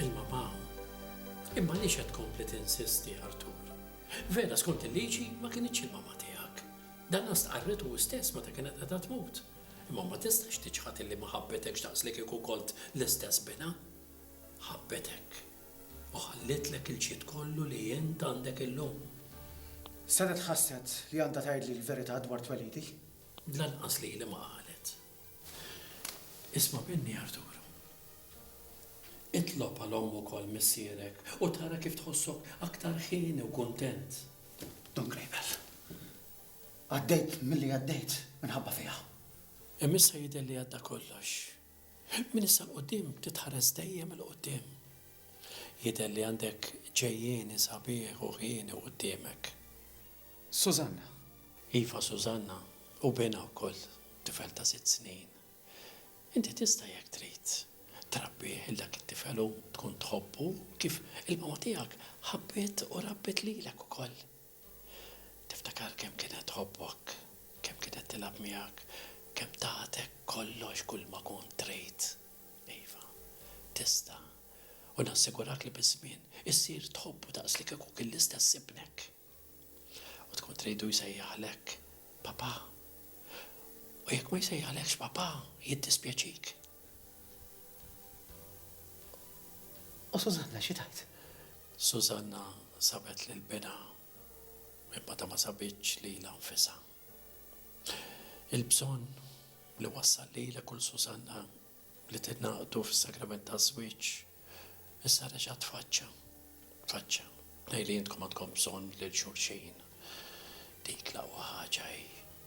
Ilma b'għawm. Imma għaliex qed tkompli tinsisti, Artur? Vera, skont il-liġi, ma kinitx il-mamma tiegħek. Danha stqarritu hi stess meta kienet qiegħda tmut. Imma ma tistax tiċħad illi ma ħabbetekx daqs li kieku kont l-istess binha. Ħabbetek u ħallietlek il-ġid kollu li int għandek illum. Senet ħasset li għandha tgħidli l-verità dwar twelidi. Lanqas lili ma qalet. Isma' minni Arturu. Itlob għal omm ukoll missierek u tara kif tħossok aktar hieni u kuntent. Don Grejbel. Għaddejt milli għaddejt minħabba fija. Imma issa jidher li għadda kollox. Minn issa 'l quddiem titħares dejjem 'il quddiem. Jidher li għandek ġejjieni sabiħ u hieni quddiemek. Susanna. Iva Susanna, u binha wkoll, tifel ta' sitt snin. Inti tista' jekk trid, trabbih 'il dak it-tifel u tkun tħobbu kif il-mama tiegħek ħabbiet u rabbiet lilek ukoll. Tiftakar kemm kienet tħobbok, kemm kienet tilgħab miegħek, kemm tatek kollox kulma kont trid. Iva, tista'. U nassigurak li biż-żmien issir tħobbu daqs li kieku kien l-istess ibnek. U tkun tridu jsejjaħlek Papà. U jekk ma jsejjaħlekx Papà, jiddispjaċik. U Susanna xi tgħid? Susanna sabet lil binha imma ta' ma sabitx lilha nfisha. Il-bżonn li wassal lilek u 'l Susanna li tingħaqdu fis-sagrament taż-żwieġ issa reġa' tfaċċa. Tfaċċa. Tnejn li intkom għandkom bżonn lil xulxin. Dik l-aqwa ħaġa hi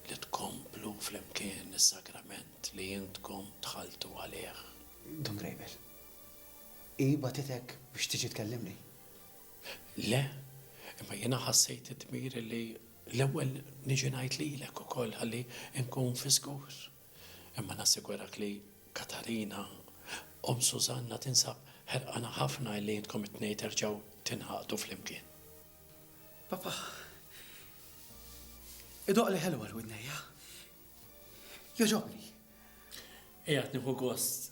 li tkomplu flimkien is-sagrament li intkom dħaltu għalih. Dun Rejbel, Hi bagħtitek biex tiġi tkellimni? Le, imma jiena ħassejt id-dmir li l-ewwel niġi ngħid lilek ukoll ħalli nkun fiżgur. Imma nassigurak li Katarina, omm Sużanna tinsab ħerqana ħafna illi intkom it-tnejn terġgħu tingħaqdu flimkien. Papà, idoqqli ħelu għal widnejja. Jogħġobni. Qiegħed nieħu gost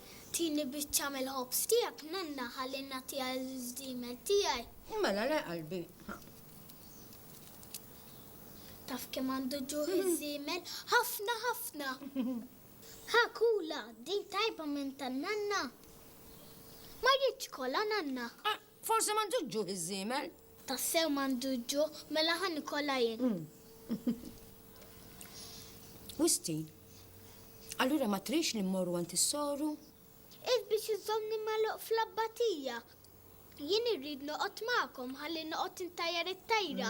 Tini biċċa mill-ħobż tiegħek, nonna, ħalli nagħtiha lill-ġdiemed tiegħi. Mela le, qalbi, ħa. Taf kemm għandu ġuħ iż-żiemel? Ħafna, ħafna! Ħa kula, din tajba minn tan-nanna. Ma rridx kolha, nanna. Forsi m'għandux ġuħ iż-żiemel? Tassew m'għandux ġuħ, mela ħa nikolha jien. Wistin, allura ma tridx li mmorru għand is-soru? Qiegħed biex iżżommni magħluq fl-abbatija. Jien irrid noqgħod magħkom ħalli noqgħod intajjar it-tajra.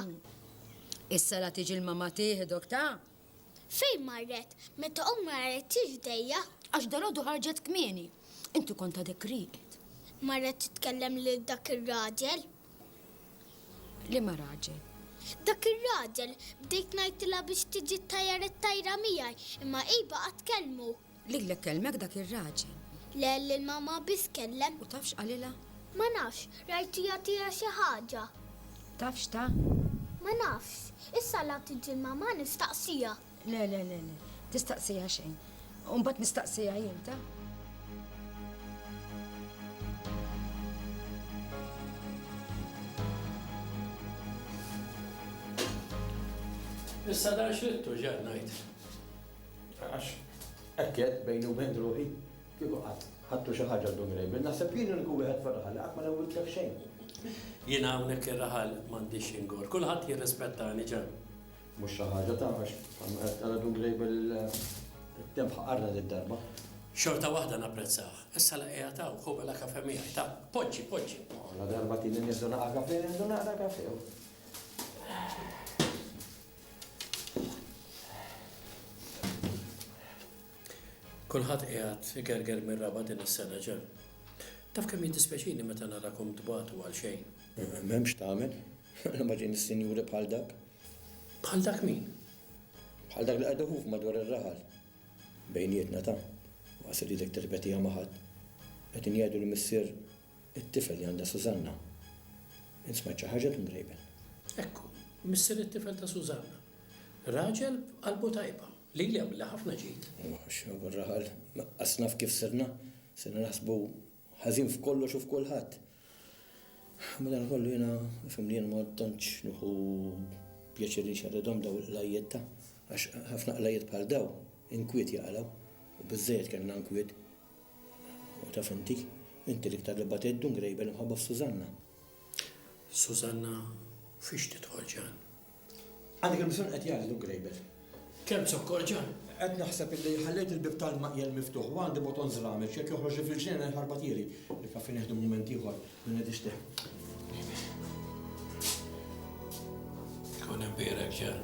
Issa la tiġi l-mamma tieħdok, ta? Fejn marret? Meta ommi għarrettiex bdejja? Għax dalgħodu ħarġet kmieni. Inti kont għadek rieqed. Marret titkellem lil dak ir-raġel. Liema raġel? Dak ir-raġel. Bdejt ngħidilha biex tiġi ttajjar it-tajra miegħi, imma hi baqgħet tkellmu. Lilek kellmek dak ir-raġel? Le, lil mamma biss kellem. U taf x'qalilha? Ma nafx, rajtu jagħtiha xi ħaġa. Taf x'ta? Ma nafx. Issa la tiġi l-mamma nistaqsiha. Le, le, le, le. Tistaqsiha xejn. U mbagħad nistaqsiha jien, ta? Issa dan x'rittu, x'qed ngħid? Għax hekk għedt bejni u bejn ruħi, Kieku qatt ħadtu xi ħaġa llum ir-Rebien, naħseb jien l-uniku wieħed fir-raħal li qatt ma newwidtlek xejn. Jiena hawnhekk ir-raħal m'għandix xi ngor. Kulħadd jirrispettani, Ġan. Mhux xi ħaġa taf għax bħalma qed tara Dun Grejbel it-temp ħaqarna did-darba. Xorta waħda napprezzah. Is-sala qiegħed hawn, ħu mela kafè miegħi, ta. Poġġi, poġġi. Ladarba tieni nieħdu naqa' kafè, nieħdu naqra kafè. Kulħadd qiegħed igerger mir-raba' din is-sena, Ġem. Taf kemm jiddispjaċini meta narakom tbatu għal xejn. M'hemm x'tagħmel. Mela ma ġejniex sinjuri bħal dak. Bħal dak min? Bħal dak li qed iħuf madwar ir-raħal. Bejnietna ta', waqas iridek tirrepetiha ma' ħadd. Qegħdin jgħidu li missier It-tifel li għandha Susanna. Int smajt xi ħaġa Dun Rayburn? Ekku, missier it-tifel ta' Susanna. Raġel b'qalbu tajba. Lili għamilli ħafna ġid. Oh, x'nofgħol raħal. Laqqas naf kif sirna. Sirna naħsbu ħażin f'kollox u f'kulħadd. Madankollu jiena nifhem li jien ma tantx nieħu pjaċir li nxerredhom daw il-qlajjiet ta' għax ħafna qlajjiet bħal daw inkwiet jaqalgħu u biżżejjed kellna nkwiet U taf inti, inti l-iktar li batiet Dun Grejbel imħabba f'Sużanna. Sużanna fiex tidħol Ġan? Għandek il-bżonn qed jgħid Dun Grejbel. Kemm zokkor Ġan? Qed naħseb illi ħallejt il-bieb tal-maqjel miftuħ u għandi boton żramel x'jekk joħroġli fil-ġnien inħarbat ieri. Il-kafè nieħdu mument ieħor, minn qed ixtieq. Kun imbierek Ġan.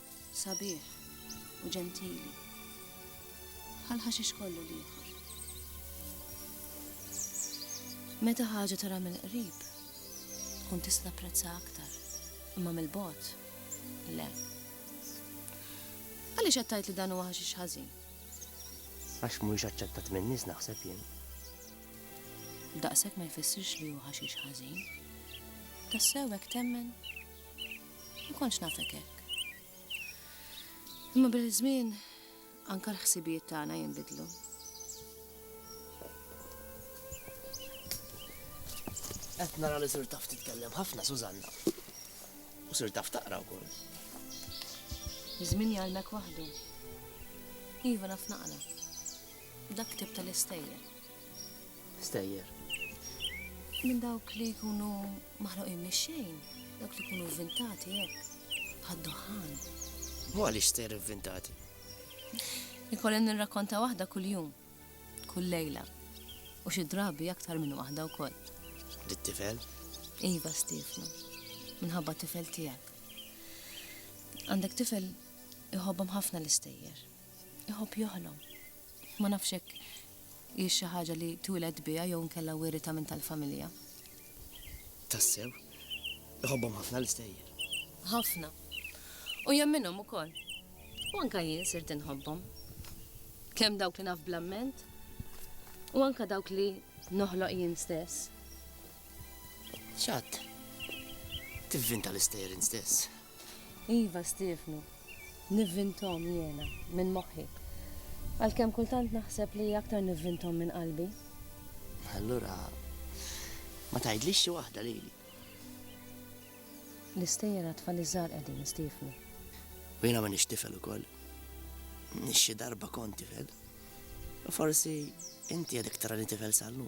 Sabiħ u ġentili. Bħal ħaxix kollu l-ieħor. Meta ħaġa tara mill-qrib, tkun tista' prezza aktar, imma mill-bot, le. Għaliex qed tgħid li dan huwa ħaxix ħażin? Għax mhuwiex aċċettat min-nies naħseb jien. Daqshekk ma jfissirx li hu ħaxix ħażin. Tassew hekk temmen? Ma kontx nafek hekk. Imma bil-żmien anka l-ħsibijiet tagħna jinbidlu. Qed nara li sir taf titkellem ħafna Susanna. U sir taf taqra wkoll. Iż-żmien jgħalmek waħdu. Iva naf naqra. Dak tip tal-istejjer. Stejjer. Minn dawk li jkunu Maħluqin mix-xejn dawk li jkunu vvintati hekk, bħad-duħħan. U għaliex ser ivvintati? Ikolli nirrakkonta waħda kuljum, kull lejla, u xi drabi aktar minn waħda wkoll. Lit-tifel? Iva, Stefnu, minħabba tifel tiegħek. Għandek tifel iħobbhom ħafna l-istejjer. Iħobb joħlom. Ma nafx hekk hiex xi ħaġa li twieled biha jew inkella wiritha minn tal-familja. Tassew? Iħobbhom ħafna l-istejjer? Ħafna. U jemminhom ukoll. U anke jien sirt inħobbhom. Kemm dawk li naf bl-amment u anke dawk li noħloq jien stess. X'għadd? Tivvinta l-istejjer int stess. Iva, Stiefnu, nivvinthom jiena, minn moħħi. Għalkemm kultant naħseb li aktar nivvinthom minn qalbi. Allura, ma tgħidlix xi waħda lili. L-istejjer għat-tfal iż-żgħar qegħdin, Stiefnu. U jiena m'iniex tifel ukoll. Xi darba kont tifel. U forsi inti għadek tarani tifel sal-lum.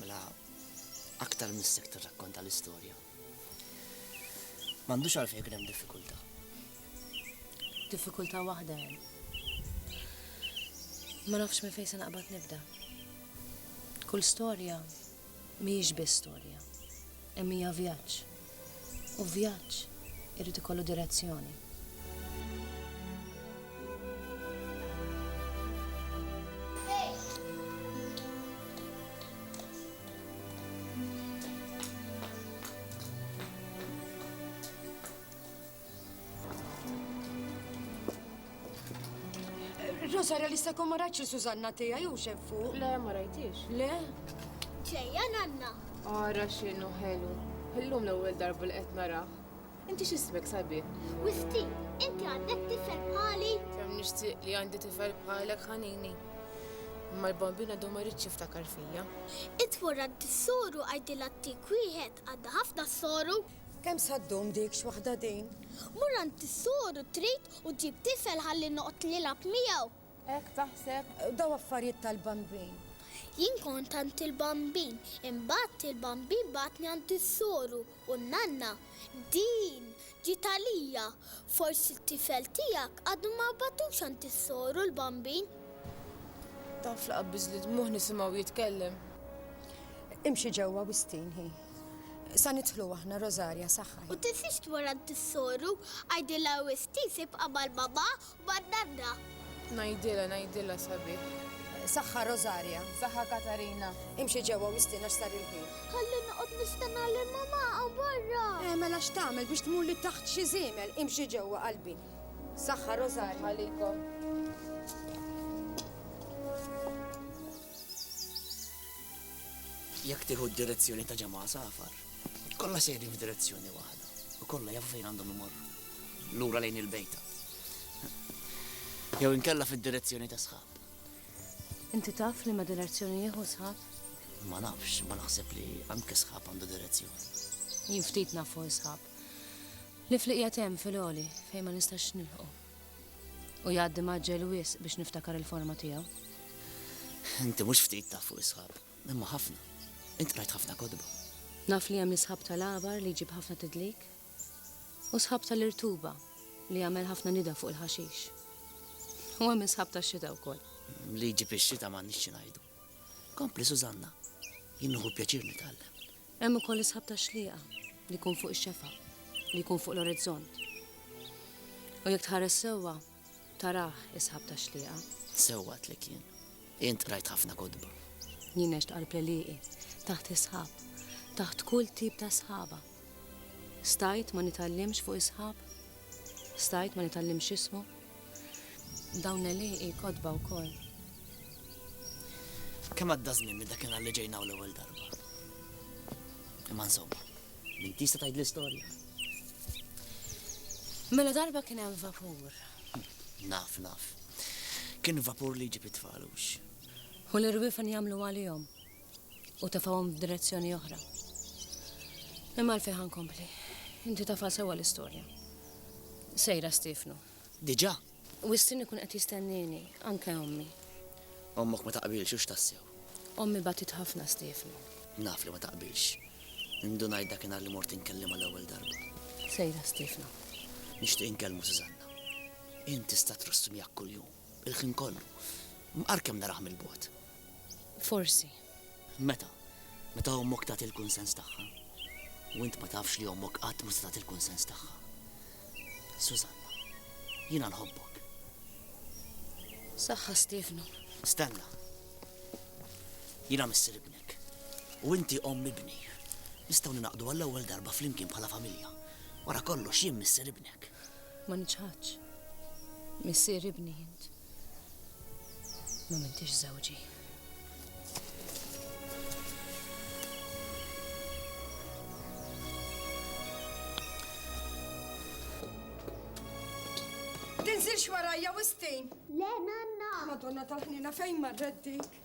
Mela aktar minn sekt tirrakkonta l-istorja, m'għandux għalfejn ikun hemm diffikultà. Diffikultà waħda hemm. Ma nafx minn fejn se naqbad nibda. Kull storja mhijiex biss storja, imma hija vjaġġ. U vjaġġ irid ikollu direzzjoni. Rosa, realista kom ma rajtx Susanna tija jew xem fuq? Le, ma rajtix. Le? Ġejja nanna. Ara xinu ħelu. Illum l-ewwel darba li qed nara. Inti x'ismek sabi? Wisti, inti għandek tifel bħali? Kemm nixtieq li għandi tifel bħalek ħanini. Imma l-bambina du ma rridx jiftakar fija. Itfurra t-soru għajdilha t-tik wieħed għadda ħafna soru. Kemm sa ddum dik, x'waħda din? Mur għand is-sur u trid u ġġib tifel ħalli noqgħod nilgħab miegħu. Hekk taħseb? Daw affarijiet tal-bambin. Jien kont għand il-bambin, imbagħad il-bambin bagħatni għand is-soru u n-nanna. Din ġiet għalija. Forsi t-tifel tiegħek għadu ma bagħtux għand is-soru l-bambin. Taf li qabbiż li dmuħ nisimgħu jitkellem. Imxi ġewwa wistin hi. Sa nidħlu aħna Rosaria saħħaħ. U tinsiex tmurant is-soru, għidilha wisq tiż ibqa' mal-mamà u man-nanna. Ngħidilha, ngħidilha sabiħ. Saħħa Rosaria, saħħa Katarina. Imxi ġewwa u istiena x'sar il-ħin. Ħalli noqgħod nistenna lil mamà hawn barra. Eh, mela x'tagħmel biex tmur li taħt xi żiemel, imxi ġewwa qalbi. Saħħa Rosaria. Saħħa likom. Jekk tieħu d-direzzjoni ta' ġemgħa safar, kollha sejrin f'direzzjoni waħda u kollha jafu fejn għandhom imorru, lura lejn il-bejta. Jew inkella fid-direzzjoni ta' sħab. Inti taf li ma direzzjoni jieħu sħab? Ma nafx, ma naħseb li anke sħab għandu direzzjoni. Jien ftit nafu sħab. Li fliqja tem fil-oli fejn ma nistax nilħu. U jgħaddi mgħaġġel wisq biex niftakar il-forma tiegħu. Inti mhux ftit taf fuq is-sħab, imma ħafna. Int qrajt ħafna kotba. Naf li hemm is-sħab tal-għabar li jġib ħafna tidlik, u sħab tal-irtuba li jagħmel ħafna nida fuq il-ħaxix. U hemm is-sħab tax-xita wkoll. Li jġib ix-xita m'għandniex xi ngħidu. Kompli Susanna, jien nieħu pjaċir nitgħallem. Hemm ukoll isħab ta' xlieqa li jkun fuq ix-xefa, li jkun fuq l-orizzont. U jekk tħares sewwa, tarah isħab ta' xlieqa. Sewwa tlek jien. Int qrajt ħafna kodba. Jien għext qalb l-eliqi, taħt isħab, taħt kull tip ta' sħaba. Stajt ma nitallimx fuq isħab? Stajt ma nitallimx ismu? Dawn l-għelieqi kotba wkoll. Kemm għadda żmien minn dakinhar li ġejna hawn l-ewwel darba. Imma insomma, minn tista' tgħidli storja? Mela darba kien hemm vapur. Naf, naf. Kien vapur li jġib it-tfal, hux? U l-irwiefen jagħmlu għalihom. u tefgħuhom f'direzzjoni oħra. Imma għalfejn ħankompli. Inti tafha sewwa l-istorja. Sejra Stefnu. Diġà? Wistin ikun qed jistennini, anke ommi. Ommok ma taqbilx u x'tassew. Ommi batit ħafna Stefnu. Naf li ma taqbilx. Indunajt dakinhar li mort inkellimha l-ewwel darba. Sejra Stefnu. Nixtieq inkellmu Susanna. Int tista' trust miegħek kuljum. Il-ħin kollu. Għar kemm narah mill-bogħod. Forsi. Meta? Meta ommok tagħti l-kunsens tagħha. U int ma tafx li ommok qatt ma se tagħti l-kunsens tagħha. Susanna, jiena nħobbok. Saħħa Stefnu. Stenna. Jiena missir ibnek. U inti omm ibni. Nistgħu ninaqdu għall-ewwel darba flimkien bħala familja. Wara kollox jien missir ibnek. Ma niċħadx. Missier ibni int. Ma mintix żewġi. Tinżilx warajja wistin. Le nanna. Madonna tal-ħnina fejn marret dik?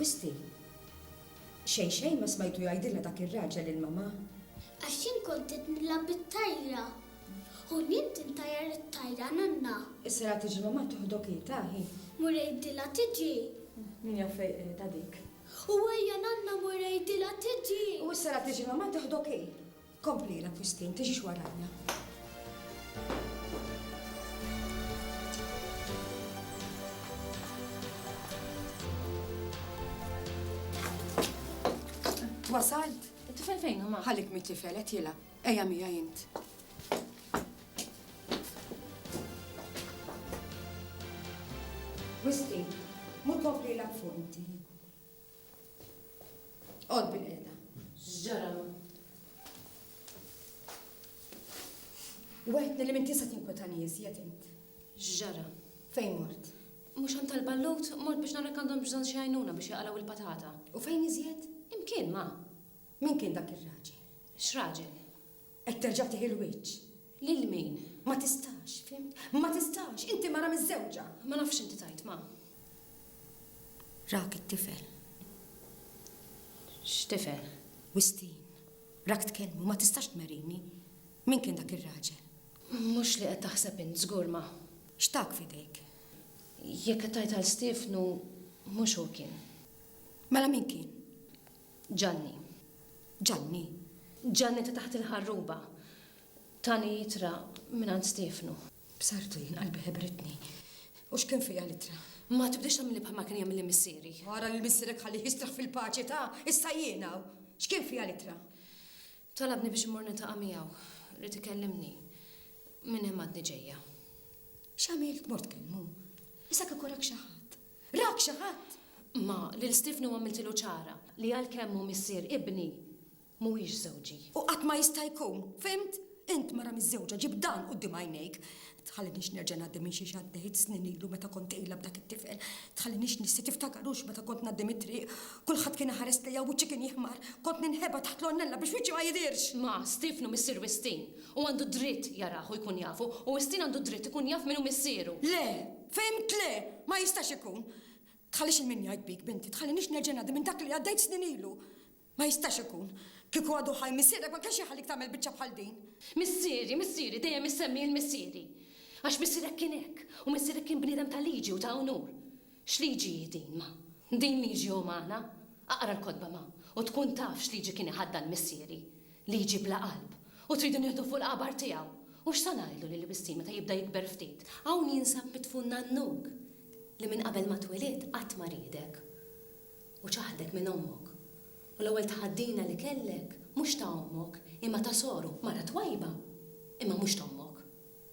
Wisti, Xejn xejn ma smajtu jgħidilna dak ir-raġel lil mamà? Għax jien kont qed nilgħab bit-tajra. Hu nimt intajjar it-tajra, nanna. Issa ra tiġi mamà toħdok hi, ta hi. Mur għidilha tiġi. Min jaf fejn qiegħda dik. U ejja nanna mur għidilha tiġi. U issa ra tiġi mamà toħdok hi. Kompli l-akkwistin, tiġix warajja. Wasalt? Tifel fejn huma? Ħalik mit tifel qed jilgħab. Ejja mija jint. Wisti, mur kompli l-akfunti. Qod bil-qiegħda. X'ġara? Weħtni li minn tisa' tinkwetani iżjed int. X'ġara? Fejn mort? Mhux għand tal-ballut, mort biex narek għandhom bżonn xi għajnuna biex jaqalgħu il-patata. U fejn iżjed? Imkien ma. Min kien dak ir-raġel? X'raġel? Qed terġa' tih il-wiċċ. Lil min? Ma tistax, fhimt? Ma tistax! Inti mara miżżewġa! Ma nafx x'inti tgħid, ma. Rak it-tifel. X'tifel? Wistin. Rak tkellmu, ma tistax tmerrini. Min kien dak ir-raġel? Mhux li qed taħseb int, żgur, ma. X'tak f'idejk? Jekk qed tgħid għal Stiefnu, mhux hu kien. Mela min kien? Ġanni. Ġanni. Ġanni ta' taħt il-ħarruba. Tani ittra mingħand Stiefnu. B'sartu jien qalbi ħebritni. U x'kien fiha l-ittra? Ma tibdiex tagħmilli bħalma kien jagħmilli missieri. Ara lil missierek ħallih jistrah fil-paċi ta'! Issa jien hawn. X'kien fiha l-ittra? Talabni biex immur niltaqa' miegħu. Ried ikellimni. Minn hemm għadni ġejja. X'għamilt? Mort kelmu. Issa kieku rak xi ħadd. Rak xi ħadd? Imma lil Stiefnu għamiltilu ċara li għalkemm hu missier ibni, mhuwiex żewġi. U qatt ma jista' jkun, fhimt? Int mara miżżewġa ġib dan quddiem għajnejk. Tħalliniex nerġa' ngħaddi minn xiex għaddejt snin ilu meta kont tqila b'dak it-tifel. Tħalliniex nissi tiftakar hux meta kont ngħaddi mit-triq. Kulħadd kien iħares lejja u wiċċi kien jiħmar. Kont ninħeba taħt l-għonnella biex wiċċi ma jidhirx. Ma, Stiefnu missier Wistin. Hu għandu dritt jarah u jkun jafu, u Wistin għandu dritt ikun jaf min hu missieru. Le! Fhimt le! Ma jistax ikun! Tħallix il-min jgħid bik, binti, tħallinix nerġa' ngħaddi minn dak li għaddejt snin ilu! Ma jistax ikun! Kieku għadu ħaj missierek ma kienx iħallik tagħmel biċċa bħal din! Missieri, missieri, dejjem issemmi il-missieri! Għax missierek kien hekk, u missierek kien bniedem ta' liġi u ta' unur! X'liġi hi din, ma? Din liġi umana? Aqra l-kotba, ma, u tkun taf x'liġi kien iħaddan missieri! li jġib la qalb u tridu nieħdu fuq l-qabar tiegħu, u x'sa ngħidlu li l-wisstie meta jibda jikber ftit, hawn jinsab midfun nannuk li minn qabel ma twilidt qatt ma riedek u ċaħdek minn ommok, u l-ewwel tħaddina li kellek mhux ta' ommok imma ta' soru, mara twajba imma mhux t'ommok.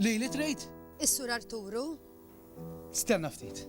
Lili trid? Is-Sur Arturu. Stenna ftit.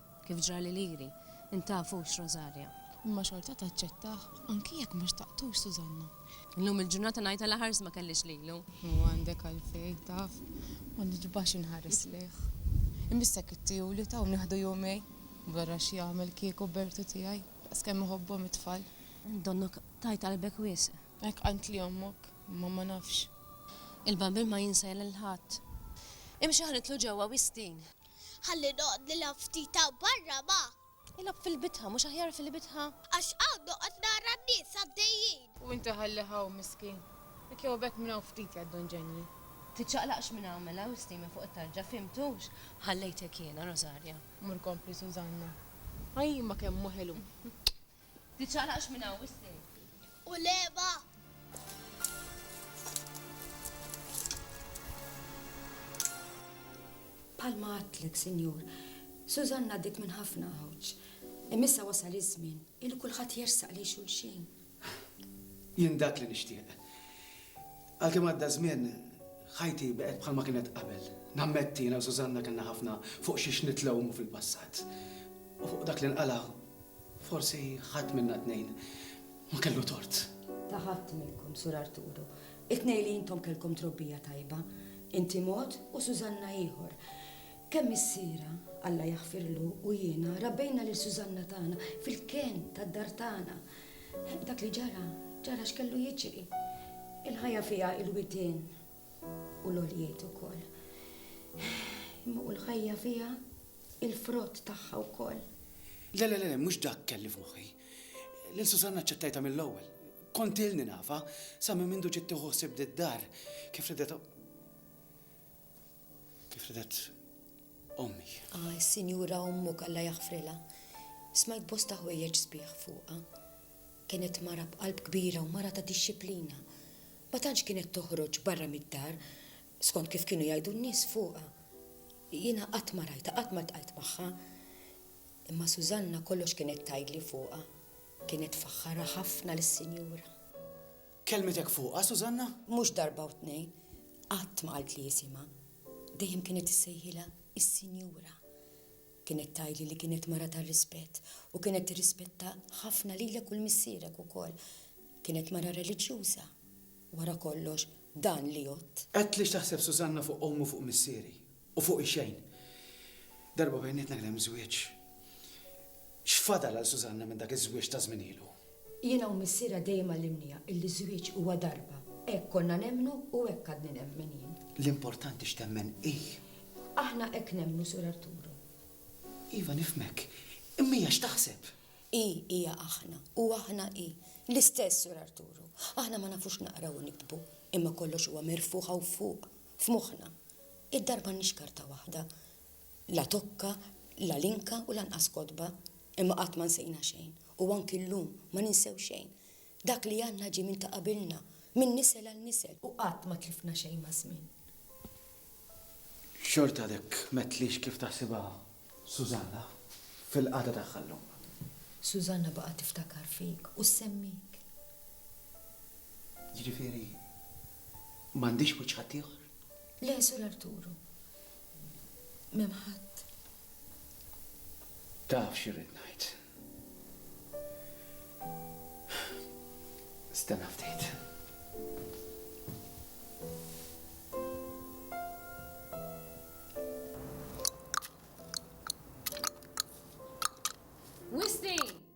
kif ġrali lili, intafux Rosaria. Imma xorta taċċettah, anki jekk ma xtaqtux Susanna. Illum il-ġurnata ngħid għala ħarsi ma kellix lilu. U għandek għalfejn, taf, ma niġbax inħares lejh. Imiss hekk it-tiegħu li taw nieħdu jumejn, barra x'jagħmel kieku Bertu tiegħi, daqskemm iħobbhom it-tfal. Donnok tajt qalbek wisq. Hekk qaltli ommok, imma ma nafx. Il-bambin ma jinsa lil ħadd. Imxi ħa nidħlu ġewwa wistin. Ħalli noqgħod nilgħab ftit hawn barra ma. Ilgħab fil-bitħa, mhux aħjar fil-bitħa? Għax hawn noqgħod nara n-nies għaddejjin. U inti ħallih hawn, miskin. Jekk jew b'hekk minn hawn ftit ja Don Ġenji. Tiċċaqlaqx minn hawn mela, u sti minn fuq it-tarġa, fhimtux? Ħallejtek jiena, Rosarja. Mur kompli Sużanna. Ajj imma kemm hu ħelu! Tiċċaqlaqx minn hawn wisq. U l-għeba? Bħalma għadtlek, Sinjur, Susan ngħaddiet minn ħafna għawġ. Imma issa wasal iż-żmien illi kulħadd jersaq lejn xulxin. Jien dak li nixtieq. Għalkemm għadda żmien, ħajti baqgħet bħalma kienet qabel. Nammetti jiena u Susanna kellna ħafna fuq xiex nitlewmu fil-passat. U fuq dak li nqala' Forsi ħadd minna t-tnejn ma kellu tort. Ta' ħadd minnkom, Sur Arturo. It-tnejn li intom kellkom trobbija tajba, inti mod u Susanna ieħor. Kemm missiera, Alla jaħfirlu, u jiena rabbejna lil Susanna tagħna fil-kenn tad-dar tagħna. Dak li ġara, ġara x'kellu jiġri. Il-ħajja fiha l-widien u l-għoljiet ukoll. Imma u l-ħajja fiha Il-frott tagħha wkoll. Le, le, le, mhux dak kelli f'moħħi. Lil Susanna ċċettajta mill-ewwel. Kont ilni nafa, sa minn mindu ġiet tieħu ħsieb did-dar, kif ridet kif ridet ommi. Ah, is-sinjura ommuk Alla jaħfrilha. Smajt bosta ħwejjeġ sbieħ fuqha. Kienet mara b'qalb kbira u mara ta' dixxiplina. Ma tantx kienet toħroġ barra mid-dar Skont kif kienu jgħidu n-nies fuqha, jiena qatt ma rajtha, qatt ma ltqajt magħha. Imma Susanna kollox kienet tgħidli fuqha, kienet tfaħħarha ħafna lis-Sinjura. Kellmitek fuqha, Susanna? Mhux darba u tnejn. Qatt ma qaltli isimha. Dejjem kienet issejħilha is-Sinjura. Kienet tgħidli li kienet mara tar-rispett u kienet tirrispetta ħafna lilek u 'l missierek ukoll. Kienet mara reliġjuża. Wara kollox, dan li għodt. Għedt li x'taħseb Susanna fuq ommi u fuq missieri. U fuqi xejn. Darba bejnietna kien hemm żwieġ. X'fadal għal Susanna minn dak iż-żwieġ ta' żmien ilu? Jiena u missierha dejjem għallimniha illi ż-żwieġ huwa darba. Hekk konna nemmnu u hekk għadni nemmen jien. L-importanti x'temmen hi. Aħna hekk nemmnu, Sur Arturo. Iva, nifhmek. Imma hija x'taħseb? Hi hija aħna, u aħna hi. L-istess, Sur Arturu. Aħna ma nafux naqraw u niktbu, imma kollox huwa mirfugħ hawn fuq, f'moħħna. Id-dar m'għandniex karta waħda, la tokka, la linka u lanqas kotba, imma qatt ma nsejna xejn, u anki llum ma ninsew xejn. Dak li għandna ġie minn ta' qabilna, minn nisel għal nisel. U qatt ma tlifna xejn maż-żmien. Xorta dik ma tlix kif taħsibha Susanna fil-qagħda tagħha llum. Susanna baqgħet tiftakar fik u ssemmik. Jiġifieri m'għandix wiċċ ħaddieħor? Le, Sur Arturu. M'hemm ħadd. Taf x'irrid ngħid. Stenna ftit. Wisni!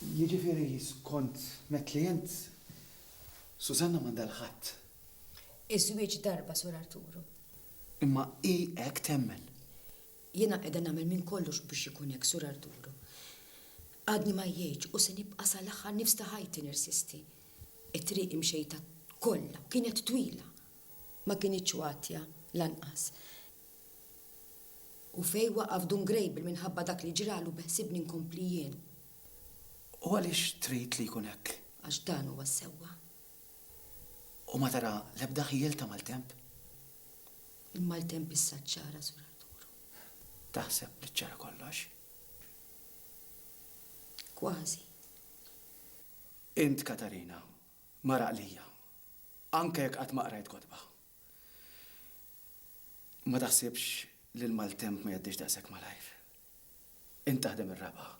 Jiġifieri skont met li int, Susanna m'għandha l-ħadd. Iż-żwieġ darba, Sur Arturu. Imma hi hekk temmen. Jiena qiegħda nagħmel minn kollox biex ikun hekk, Sur Arturu. Għadni ma jgħidx u se nibqa' sal-aħħar nifs ta' ħajti nirsisti. It-triq imxejta kollha kienet twila, ma kinitx watja lanqas. U fejn waqaf Dun Grejbel minħabba dak li ġralu beħsibni nkompli jien. U għaliex trid li jkun hekk? Għax dan huwa s-sewwa. U ma tara l-ebda ħjiel ta' maltemp? Il-maltemp issa ċċara, Sur Arturu. Taħseb li ċċara kollox? Kważi. Int, Katarina, mara qlija, anke jekk qatt ma qrajt kotba. Ma taħsibx li l-maltemp ma jgħaddix daqshekk malajr. Int taħdem ir-raba',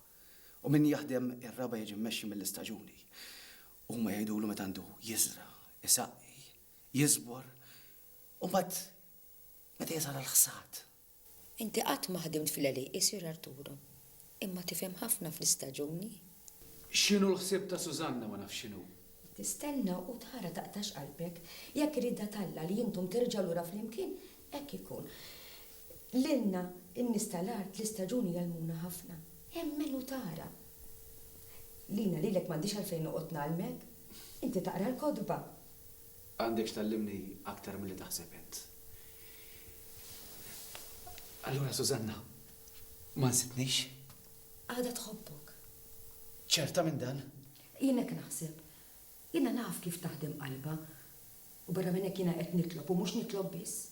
u min jaħdem ir-raba' jiġi mmexxi mill-istaġuni. Huma jgħidulu meta għandu jiżra', isaqqi, jiżbor, u mbagħad meta jeżala l-ħsad. Inti qatt ma ħdimt fl-għelieq, isir Arturo. Imma tifhem ħafna fl-istaġuni. X'inhu l-ħsieb ta' Susanna ma nafx x'inhu. Tistenna u tara taqtax qalbek. Jekk irida t'Alla li intom terġgħu lura flimkien, hekk ikun. Lilna, in-nies tal-art, l-istaġuni jgħallmuna ħafna. Emmen u tara. Lina lilek m'għandix għalfejn noqgħod ngħallmek. Inti taqra l-kotba. Għandek x'tgħallimni aktar milli taħseb int. Allura Susanna ma nsitnix? Għadha tħobbok. Ċerta minn dan? Jien hekk naħseb. Jiena naf kif taħdem qalbha. U barra minn hekk jiena qed nitlob u mhux nitlob biss.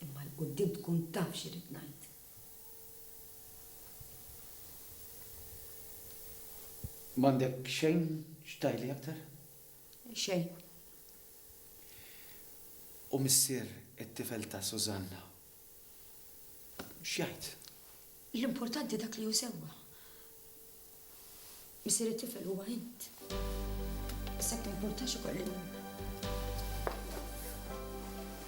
Imma 'l quddiem tkun taf x'irrid ngħid. M'għandek xejn x'tgħidli aktar? xejn. U missier it-tifel ta' Susanna x'jgħid? L-importanti dak li hu sewwa. Missier it-tifel huwa int. Issa timpurtax ukoll li.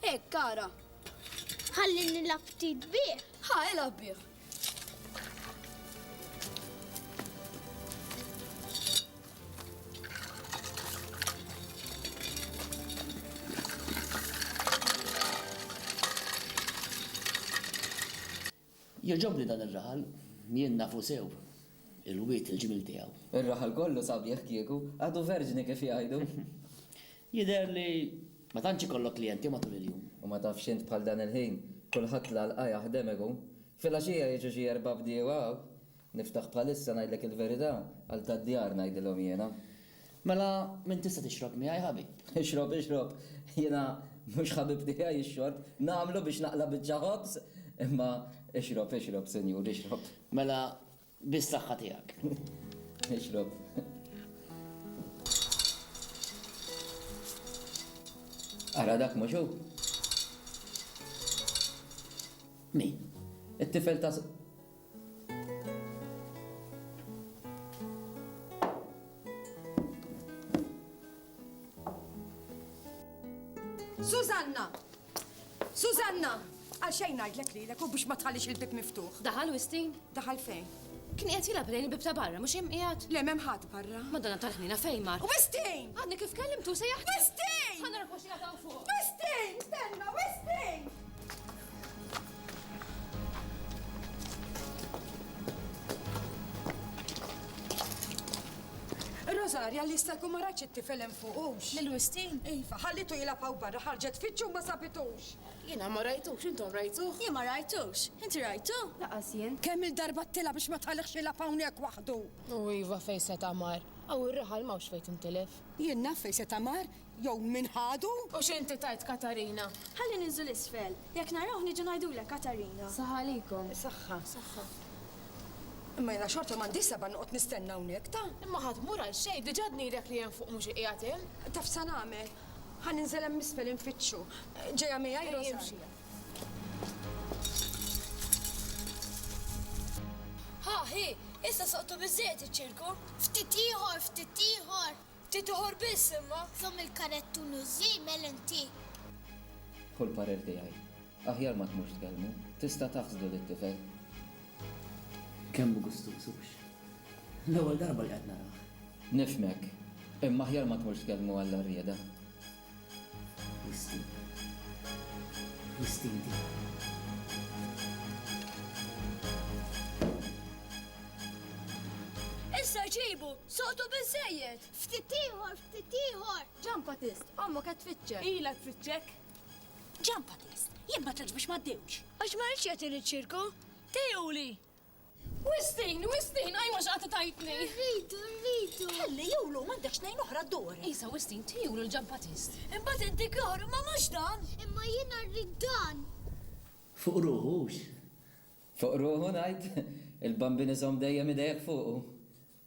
Hekk, ara. Ħalli nilgħab ftit bih. Ħa, ilgħab bih. Jogħġobni dan ir-raħal, jien nafu sew il-wied il-ġmiel tiegħu. Ir-raħal kollu sabiħ kieku, għadu verġni kif jgħidu. Jidher li ma tantx ikollok klijenti matul il-jum. U ma tafx int bħal dan il-ħin, kulħadd l-għalqa jaħdem ikun. Filgħaxija jiġu xi erba' bdiewa hawn. Niftaħ bħalissa ngħidlek il-verità, għal tad-djar ngħidilhom jiena. Mela min tista' tixrob miegħi ħabib? Ixrob, ixrob, jiena mhux ħabib tiegħi x-xorb, nagħmlu biex naqla' biċċa ħobż, imma ixrob, ixrob, Sinjur, ixrob. Mela bis-saħħa tiegħek. Ixrob. Ara dak mhux hu? Min? It-tifel ta' Susanna! Susanna! Għal xejn ngħidlek lilek u biex ma tħallix il-bib miftuħ. Daħal Wistin? Daħal fejn? Kien qed jilgħab lejn il-bib ta' barra, mhux hemm qiegħed? Le m'hemm ħadd barra. Madonna tal-ħnina fejn mar. Wistin! Għadni kif kellimtu se jaħdem. Wistin! Ħanna rkoxina ta' fuq. Wistin! Stenna, Wistin! Rosaria li jista' jkun ma rajtx it-tifel hemm fuqux. Lil Wistin? Iva, ħallitu jilgħab hawn barra ħarġet fittxu ma sabitux. Jiena ma rajtux, intom rajtuh? Jien ma rajtux. Inti rajtu? Laqas jien. Kemm-il darba għedtilha biex ma tħallihx jilgħab hawnhekk waħdu! U iva fejn seta' mar. Hawn ir-raħal m'hawnx fejn tintilef. Jien naf fejn seta' mar, Jew min ħadu? U x'inti tgħid Katarina? Ħalli ninżlu 'l isfel. Jekk narawh niġu ngħidulek Katarina. Saħħa għalikom. Saħħa. Saħħa. Imma jiena xorta m'għandix seba' noqgħod nistenna hawnhekk, ta? Imma ħa tmur għal xejn, diġà dnidek li hemm fuq mhux iqiegħed hemm. Taf sa nagħmel? Ħa ninżel hemm isfel infittxu. Ġejja miegħi Rosaria. Ħa, hi, issa soqtu biżżejjed iċ-ċirku. Ftit ieħor, ftit ieħor. Ftit ieħor biss imma. Żomm il-karettun u ż-żiemel inti. Hu l-parir tiegħi. Aħjar ma tmurx tkellmu. Tista' taħsdu lit-tifel. Kemm hu gustuż, hux? L-ewwel darba li qed narah. Nifhmek. Imma aħjar ma tmurx tkellmu għall-għarrieda. Issa ġibu! Soqtu biżżejjed! Ftit ieħor, ftit ieħor! Ġampatist, ommok qed tfittxek! Ilha tfittxek! Ġampatist, jien ma tlgħax biex ma ddiewx! Għax ma ridx jagħtini ċ-ċirku! Tejjuli! Wistin, Wistin, għaj mhux qatt tajtni. Rridu, rridu. Ħalli julu m'għandek xnejn oħra d-dor. Isa Wistin, tijulu l-ġan Batist. Imbagħad inti kor, ma mhux dan. Imma jiena rrid dan. Fuq ruħu hux. Fuq ruħu ngħid, il-Bambin iżomm dejjem idejek fuqu.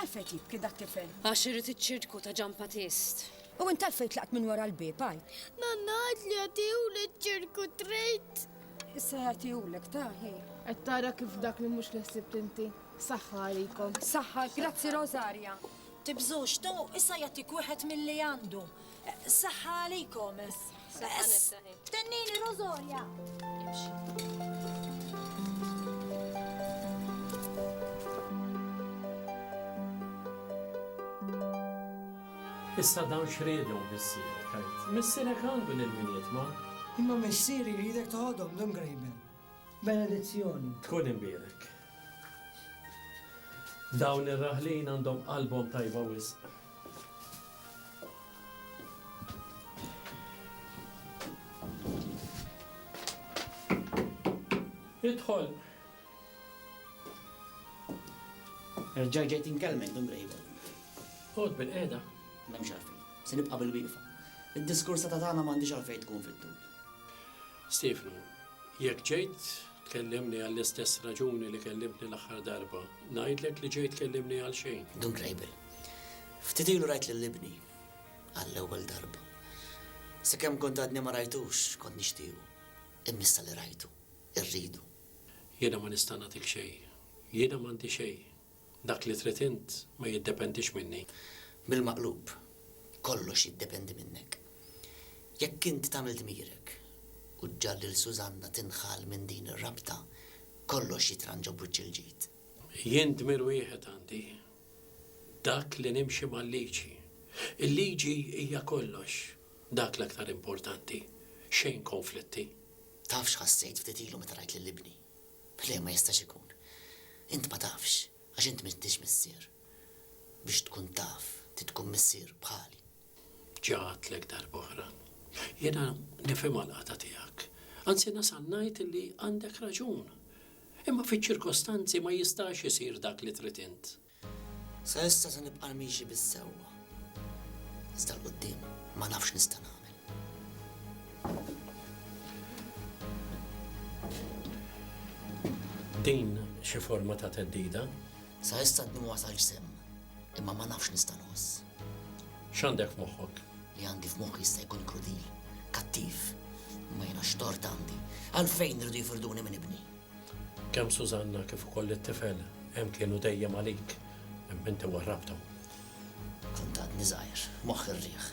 Għalfejn jibki dak tifel? Għax irid iċ-ċirku ta' Ġan Patist. U int għalfejn tlaqt minn wara l-bieb għaj? Nanna għad li għatihulek ċirku trejt. Issa jagħtihulek taħi. Qed tara kif dak li mhux l-ħsib tinti. Saħħa għalikom. Saħħa, grazzi Rosaria. Tibżux, tu issa jagħtik wieħed milli għandu. Saħħa għalikom. Tennini Rosolja. Issa dawn x'riedhom missierek għid? Missierek għandu l-ilminiet ma. Imma missieri jridek toħodhom l-imgrejben. Benedizzjoni. Tkun imbierek. Dawn ir-raħlin għandhom qalbhom tajba wisq. Idħol. Erġa' ġejt inkellmek, Dun Bejbel. Oqgħod bilqiegħda. M'hemmx għalfejn. Se nibqa' bilwieqfa. Id-diskorsa ta' tagħna m'għandhiex għalfejn tkun fit-tul. Stiefnu, Jekk ġejt tkellimni għall-istess raġuni li kellimtni l-aħħar darba, ngħidlek li ġejt tkellimni għalxejn. Dun Kleibel, Ftit ilu rajt lil ibni għall-ewwel darba. Sakemm kont għadni ma rajtux, kont nixtiequ. Imma issa li rajtu, irridu. Jiena ma nista' nagħtik xejn. Jiena m'għandi xejn. Dak li trid int ma jiddependix minni. Bil-maqlub, kollox jiddependi minnek. Jekk int tagħmel dmirek u ġġagħal lil Susanna tinħall minn din ir-rabta, kollox jitranġa b'wiċċ il-ġid. Jien dmir wieħed għandi, dak li nimxi mal-liġi. Il-liġi hija kollox, dak l-aktar importanti, xejn konflitti. Taf x'ħassejt ftit ilu meta rajt lil ibni? Le, ma jistax ikun. Int ma tafx, għax int m'intix missier. Biex tkun taf, trid tkun missier bħali. Ġa għedtlek darb'oħra. Jiena nifhimha l-qagħda tiegħek. Anzi nasal ngħid li għandek raġun. Imma fiċ-ċirkostanzi ma jistax isir dak li trid int. Sa issa se nibqa' miexi bis-sewwa. Iżda 'l quddiem ma nafx x'nista' nagħmel. Din xi forma ta' theddida? Sa issa għadni ma wasalx sehem, imma ma nafx x'nista' nħoss. X'għandek f'moħħok? Li għandi f'moħħi jista' jkun krudil, kattiv, imma jiena x'tort għandi? Għalfejn iridu jifrduni minn ibni? Kemm Sużanna kif ukoll it-tifel hemm kienu dejjem għalik imma inti warrabthom. Kont għadni żgħir, moħħi rrieħ.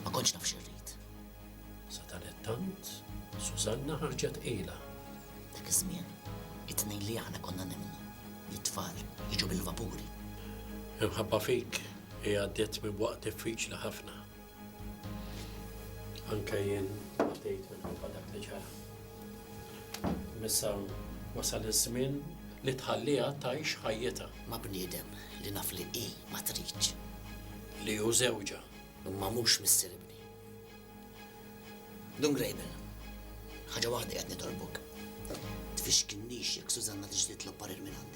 Ma kontx naf x'irrid. Sadanittant, Sużanna ħarġet tqila. Dak iż-żmien, it-tnejn li aħna konna nemmnu li t-tfal jiġu bil-vapuri. Imħabba fik hi għaddiet minn waqt diffiċli ħafna. Anke jien għaddejt minħabba dak li ġara. Imma issa wasal iż-żmien li tħalliha tgħix ħajjitha. Ma' bniedem li naf li hi ma tridx. Li hu żewġha. Imma mhux missier ibni. Dun Grable, ħaġa waħda qiegħed nitolbok. Tfixkilnix jekk Susanna tiġi titlob parir minn għandek.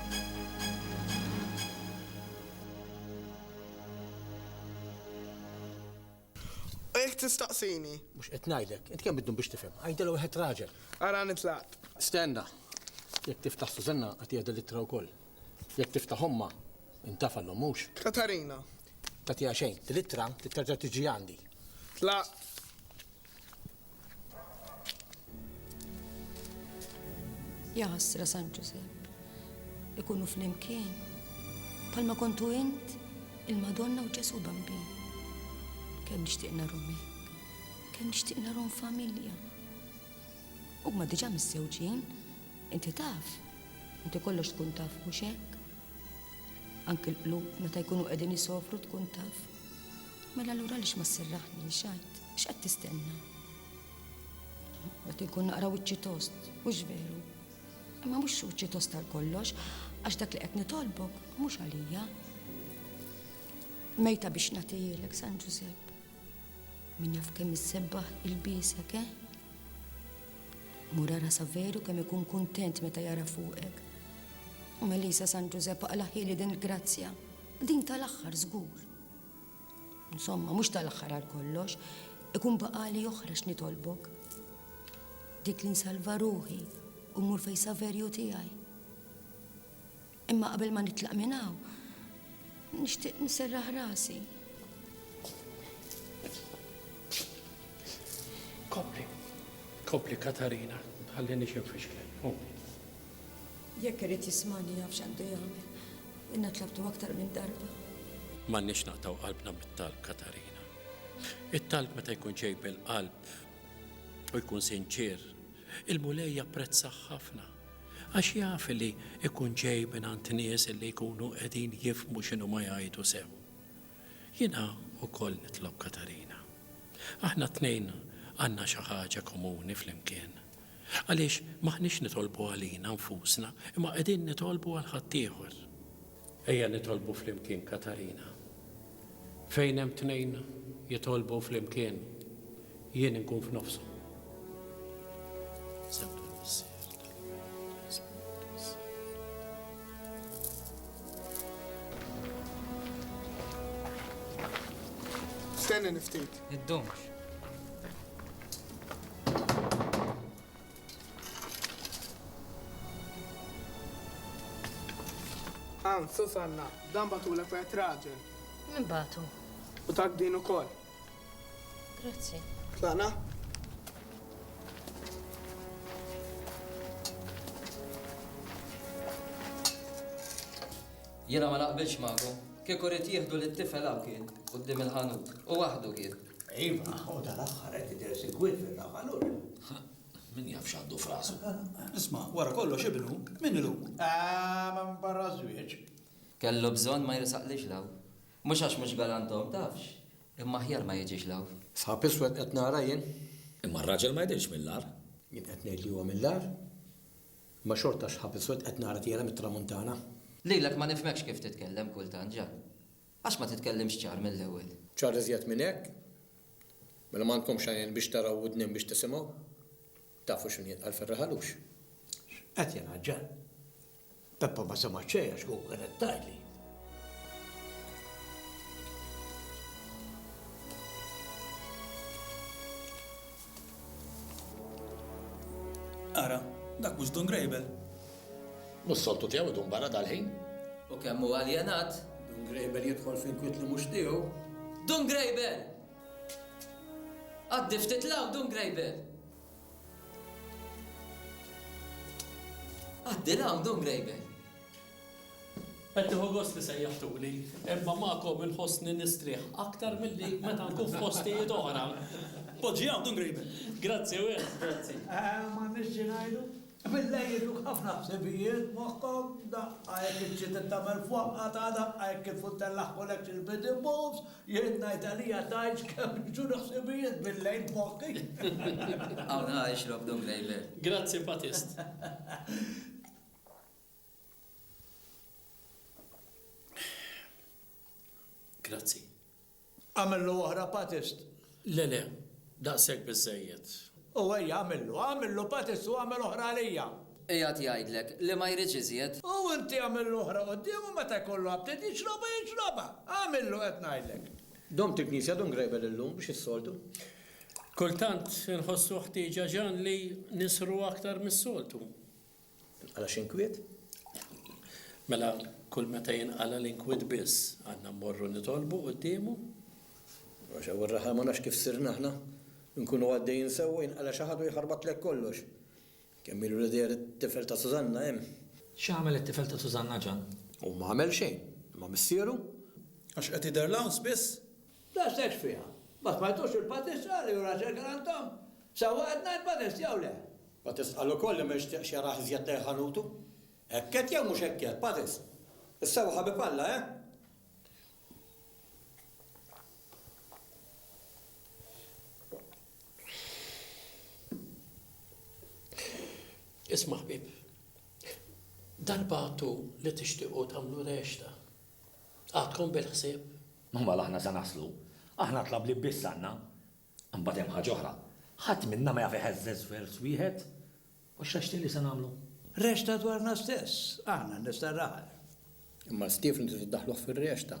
Hekk tistaqsini? Mhux qed ngħidlek. Int kemm bid-dun biex tifhem? Għidilha wieħed raġel. Ara nitlaq. Stenna. Jekk tiftaħ Sużanna agħtiha din l-ittra wkoll. Jekk tiftaħ ommha, intafa' l-omm, mhux? Katarina. Tagħtiha xejn. Din l-ittra trid terġa' tiġi għandi. Tlaqt. Jaħasra San Ġusepp, ikunu fl-imkien, palma kontu int il-Madonna u Ġesu Bambin. Kemm nixtieq narhom hekk, kemm nixtieq narhom familja. Huma diġà missewġin, inti taf, inti kollox tkun taf mhux hekk. Anki l-qlub meta jkunu qegħdin isofru tkun taf. Mela allura għaliex ma sserraħniex għid? X'qed tistenna? Qed inkun naqra wiċċi tost, mhux veru. Imma mhux wiċċi tost tal kollox, għax dak li qed nitolbok mhux għalija. Mejta biex nagħtihilek San Ġużepp. Min jaf kemm issebbaħ il-bisek, eh? Mura rasa veru kemm ikun kuntent meta jara fuqek. U Melisa San Ġużepp aqlaħili din il-grazzja, din tal-aħħar żgur. Insomma, mhux tal-aħħar għal kollox, ikun baqali oħra x'nitolbok. Dik li nsalva ruħi u mmur fej Saverju tiegħi. Imma qabel ma nitlaq minn hawn, nixtieq nserraħ rasi. Kopli, kopli Katarina, ħalli nixem fixklen. Jekk irid jismagħni jaf x'għandu jagħmel. Ilna tlabtu aktar minn darba. M'għandniex naqtgħu qalbna mit-talb, Katarina. It-talb meta jkun ġej mill-qalb u jkun sinċier, il-Mulej japprezzah ħafna għax jaf li jkun ġej mingħand nies li jkunu qegħdin jifhmu x'inhuma jgħidu sew. Jiena wkoll nitlob Katarina. Aħna t-tnejn għandna xi ħaġa komuni flimkien. Għaliex m'aħniex nitolbu għalina nfusna, imma qegħdin nitolbu għal ħaddieħor. Ejja nitolbu flimkien Katarina. Fejn hemm tnejn jitolbu flimkien, jien inkun f'nofshom. Stenni niftit. Id-domx. Ann, Susanna, dan bagħtulek wieħed raġel. Min bagħtu? U tak din ukoll. Grazzi. Tlaqna? Jiena ma naqbilx magħkom. Kieku ried jieħdu lit-tifel hawn kien, quddiem il-ħanut. U waħdu kien. Iva, u tal-aħħar qed jidher sikwit fir-ravalur. Min jaf x'għandu f'rasu. Isma', wara kollox ibnu, min ilu? Ah, ma barra żwieġ. Kellu bżonn ma jrisaqlix l hawn. Mhux għax mhux galant hawn tafx, imma aħjar ma jiġix l hawn. Sħab iswed qed nara jien. Imma r-raġel ma jidhirx mill-agħar. Jien qed ngħid li huwa mill-agħar. Imma xorta xħab iswed qed nara tiela' mit-tramuntana. Lilek ma nifhmekx kif titkellem kultant, Ġan. Għax ma titkellimx ċar mill-ewwel? Ċar iżjed minn hekk? Mela m'għandkomx għajnejn biex taraw u wdnejn biex tisimgħu? Tafu x'inhu jitqal fir-raħalux? X'qed jingħaġġel? Peppa ma semgħet xejn għax kieku kienet tgħidli. Ara, dak mhux Dun Grejbel? Mhux soltu tiegħu idum barra dal-ħin? U kemm hu aljenat! Dun Grejbel jidħol f'inkwiet li mhux tiegħu. Dun Grejbel! Għaddi ftit 'l hawn, Dun Grejbel! Għaddi 'l hawn, Dun Grejbel! Qed nieħu gost li sejjaħtuli, imma magħkom inħossni nistrieħ aktar milli meta nkun f'postijiet oħra. Poġġi hawn tkun qribek. Grazzi wis. Grazzi. M'għandniex xi ngħidu. Billejl iduk ħafna ħsibijiet moħħok, daqqa jekk iċ-ċiet ittagħmel f'waqqa ta' daqqa jekk il-futtell laħħulek xi l-bid imbuż, jien ngħid għalija tgħidx kemm jiġuni ħsibijiet billejl f'moħħi. Hawn ħa ixrob dungħejber. Grazzi Patist. Grazzi. Għamillu oħra patist? Le, le, daqshekk biżżejjed. U ejja għamillu, għamillu patist u għamel oħra għalija. Qiegħed jgħidlek li ma jridx iżjed. U inti għamillu oħra quddiemu meta jkollu aptit jixrobha jixrobha. Għamillu qed ngħidlek. Domt il-knisja dum grejbel illum biex is-soltu. Kultant inħossu ħtieġa Ġan li nisru aktar mis-soltu. Tinqala' x'inkwiet? Mela kull meta jinqala' l-inkwiet biss għandna mmorru nitolbu quddiemu? Għax hawn ir-raħal ma nafx kif sirna aħna. Inkunu għaddejjin sewwa jinqala' xi ħadd u jħarbatlek kollox. Kemm ilu li deher it-tifel ta' Sużanna hemm? X'għamel it-tifel ta' Sużanna Ġann? Hu m'għamel xejn. Imma missieru? Għax qed jidher l-għaws biss? Tant stejt fiha. Ma smajtux il-Batist qal li hu raġel kien għand omm? Sa huwa qed ngħid Batist jew le? Batist qal ukoll li ma jixtieqx jarah iżjed lejn ħanutu. Hekk għedt jew mhux hekk għedt, Batist? Issa hu ħabib Alla, eh? Isma' ħbieb, darba għadtu li tixtiequ tagħmlu rexta. Għadkom bil-ħsieb Ma mela aħna se naslu. Aħna tlablieb biss għandna. Imbagħad hemm ħaġa oħra. Ħadd minna ma jaf iħeżżeż vers wieħed. U x'għex li se nagħmlu? Rexta dwarna stess, aħna n-nies tar-raħal. Imma Stiefnu trid iddaħħluh fir-rexta.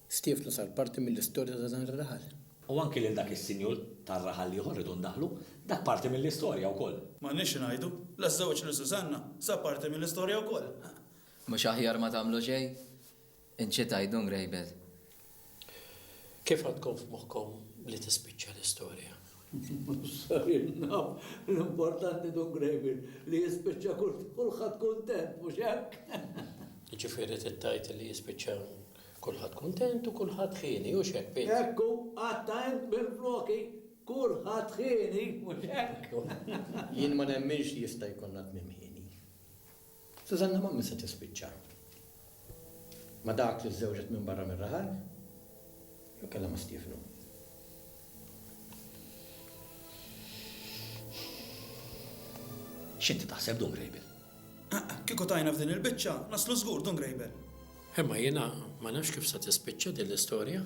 Stiefnu sar parti mill-istorja ta' dan ir-raħal. U anki lil dak is-sinjur tar-raħal l-ieħor rridu ndaħħlu. Dak parti mill-istorja wkoll. M'għandniex xi ngħidu. La ż-żewġ lil Susanna sar parti mill-istorja wkoll. Mhux aħjar ma tagħmlu xejn? Inċita jdun rejbel. Kif għandkom f'moħħkom li tispiċċa l-istorja? Sarilna l-importanti dun grejbel li jispiċċa kulħadd kuntent, mhux hekk? Jiġifieri trid tgħid li jispiċċa kulħadd kuntent u kulħadd ħieni, hux hekk, Pit? Hekk hu, qatta' int mill-floki, kulħadd ħieni, mhux hekk? Jien ma nemminx li jista' jkollna tmiem ħieni. Susanna m'għamr se tispiċċa ma' dak li żżewġet minn barra mir-raħal jew kellha ma' Stiefnu. X'inti taħseb, Dun Grejbel? Kieku tajna f'din il-biċċa, naslu żgur, Dun Grejbel. Imma jiena ma nafx kif se tispiċċa din l-istorja.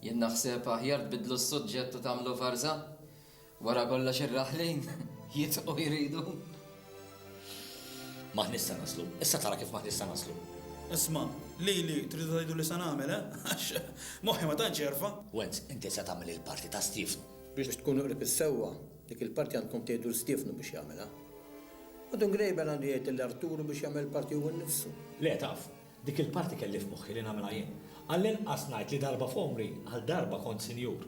Jien naħseb aħjar tbiddlu s-suġġett u tagħmlu varża. Wara kollox ir-raħlin jitqu jridu. M'aħniex se naslu. Issa tara kif m'aħniex se naslu. Isma', lili tridu tgħiduli se nagħmel, eh? Għax moħħi ma tantx jerfa'. Wenz, inti se tagħmel il-parti ta' Stiefnu. Biex tkunu qrib is-sewwa, dik il-parti għandkom tgħidu 'l Stiefnu biex jagħmilha. U Dun Grejben għandu jgħid lil Arturu biex jagħmel il-parti hu nnifsu. Le, taf, dik il-parti kelli f'moħħi li nagħmilha jien. Għallinqas ngħid li darba f'għomri, għal darba kont sinjur.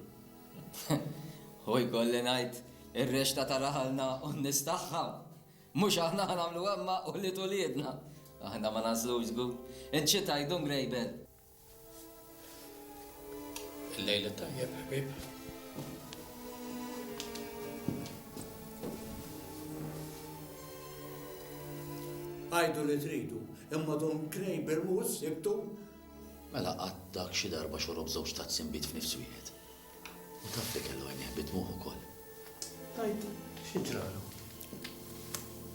U jkolli ngħid, ir-rexta ta' raħalna u n-nies tagħha. Mhux aħna ħa nagħmlu imma ulied uliedna. Aħna ma nagħżlux żgur. Int xi tgħid, Dun Grejben? Il-lejl it-tajjeb, ħbieb. Għidu li tridu, imma Dun Grejben mhuwiex sibtu. Mela qatt dak xi darba xorob żewġ tazzi nbid f'nifs wieħed. U taf li kellu għajnejh bi dmugħ ukoll. Tgħid xi ġralu?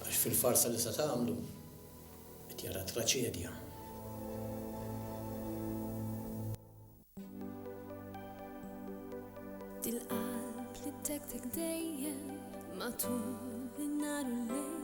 Għax fil-farsa li se tagħmlu qed jara traċedja. Dil-qalb li tektek dejjem matul in-nhar u l-lejl.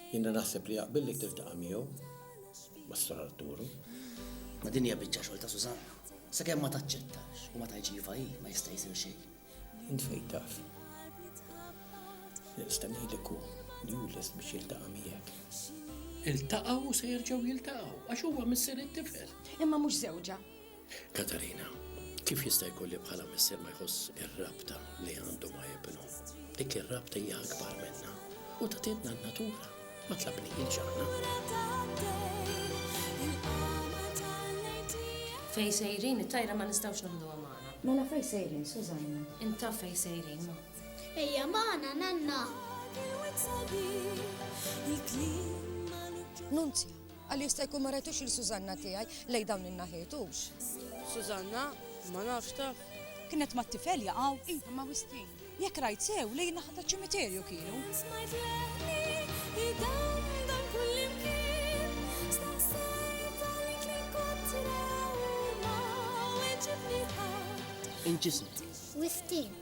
Jiena naħseb li jaqbillek tiltaqa' miegħu ma' Sor Arturu. Ma' din hija biċċa xogħol ta' Susanna. Sakemm ma taċċettax u ma tgħidx iva hi ma jista' jsir xejn. Int fejn taf. Nista' ngħidlek hu li hu lest biex jiltaqa' miegħek. Iltaqgħu u se jerġgħu jiltaqgħu għax huwa missier it-tifel. Imma mhux żewġha. Katarina, Kif jista' jkun li bħala missier ma jħoss ir-rabta li għandu ma' ibnu? Dik ir-rabta hija akbar minna u ta' tidna n-natura ma tlabnihiex aħna. Fej sejrin, it-tajra ma nistgħux naħduha magħna. Mela fej sejrin, Sużanna? Intaf fej sejrin, ma. Ejja magħna, nanna! Nunzja, Qal jista' jkun ma rajtux lil Sużanna tiegħi lejn dawn in-naħiet, hux? Sużanna, Ma nafx taf. Kienet mat-tifel jaqgħu? Iva, ma' Wistin. Jekk rajt sew, lejn in-naħa taċ-ċimiterju kienu. Smajt leħni jdandal kullimkien, staqsejt għalik min kontra u ma weġibni ħadd. Inġisni. Wistin,